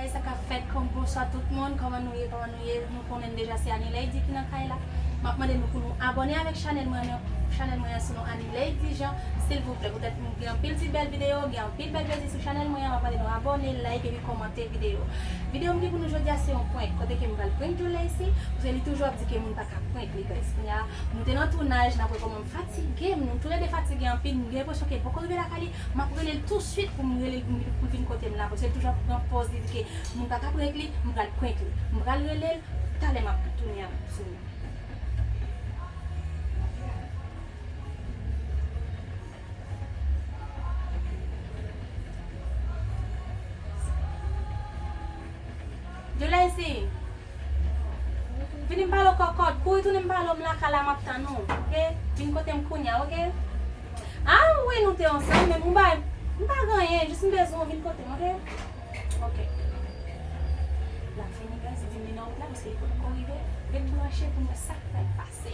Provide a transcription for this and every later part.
Bagay sa ka fèt kon bonswa tout moun kòman nou ye kòman nou ye nou konnenm deja se Anileidy ki nan kay la map mande nou pou nou abòne avèk chanèl mwen nan chanèl mwen an se non Anileidy Jean silvouplè poutèt m gen anpil ti bèl video gen anpil bèl plezi sou chanèl mwen an map mande nou abòne like epi kòmante video video m gen pou nou jodia se yon prank kote ke m pral prank Djouleysi paske li toujou ap di ke moun paka prank li guys kounya nou te nan tounaj nap wè kòman Fatige m, tou le 2 fatige anpil, m gen enpresyon ke l poko rive lakay li, m ap rele l tou suit pou m rele l pou l vin kote m la, paske l toujou ap pran pòz li di ke m pa ka prank li, m pral prank li. M pral rele l, talè m ap tounen ak sou nou. Jolèsi! Vini m pale w kòkòt, kouri tounen m pale w m lakay la map tann ou ok, vin kote m kounya ok Ah wi nou te ansanm men m bay m pa gen anyen jis m bezwen w vin kote m ok Ok Lap fini bè se diminye nan wout la paske li pot ko rive Ret branche pou n wè sak pral pase.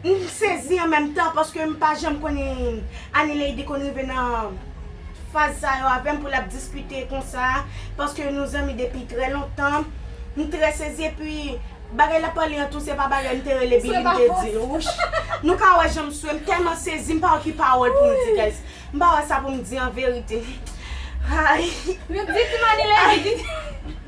M sezi an menm tan paske m pa janm konn Anileidi konn rive nan faz sa yo avèm pou lap diskite konsa paske nou zanmi depi trè lontan m trè sezi epi bagay lap pale an tou se pa bagay m te rele Bini m te dil wouch nou ka wè janm swe m tèlman sezi m pa wè ki pawòl poum di guys m pa wè sa poum di anverite ayy. Di ti m Anileidi.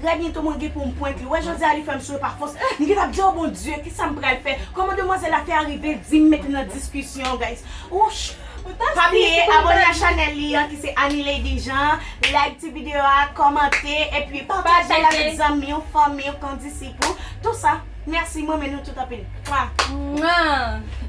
Trè byento mwen gen pou m prank li. Wè jan Zia li fè m swe pa fòs. M gentan ap di oh Bondye kisa m pral fè. Kòman demwazèl la fè arive di m met li nan diskisyon guys. Wouch. Pa bliye abone a chanèl li an ki se Anilady Jean, like ti video a, kòmante, epi pataje l avèk zanmi w, fanmi w, kondisip ou, tou sa. Mèsi m renmen nou tout anpil. Mwah. Mwah.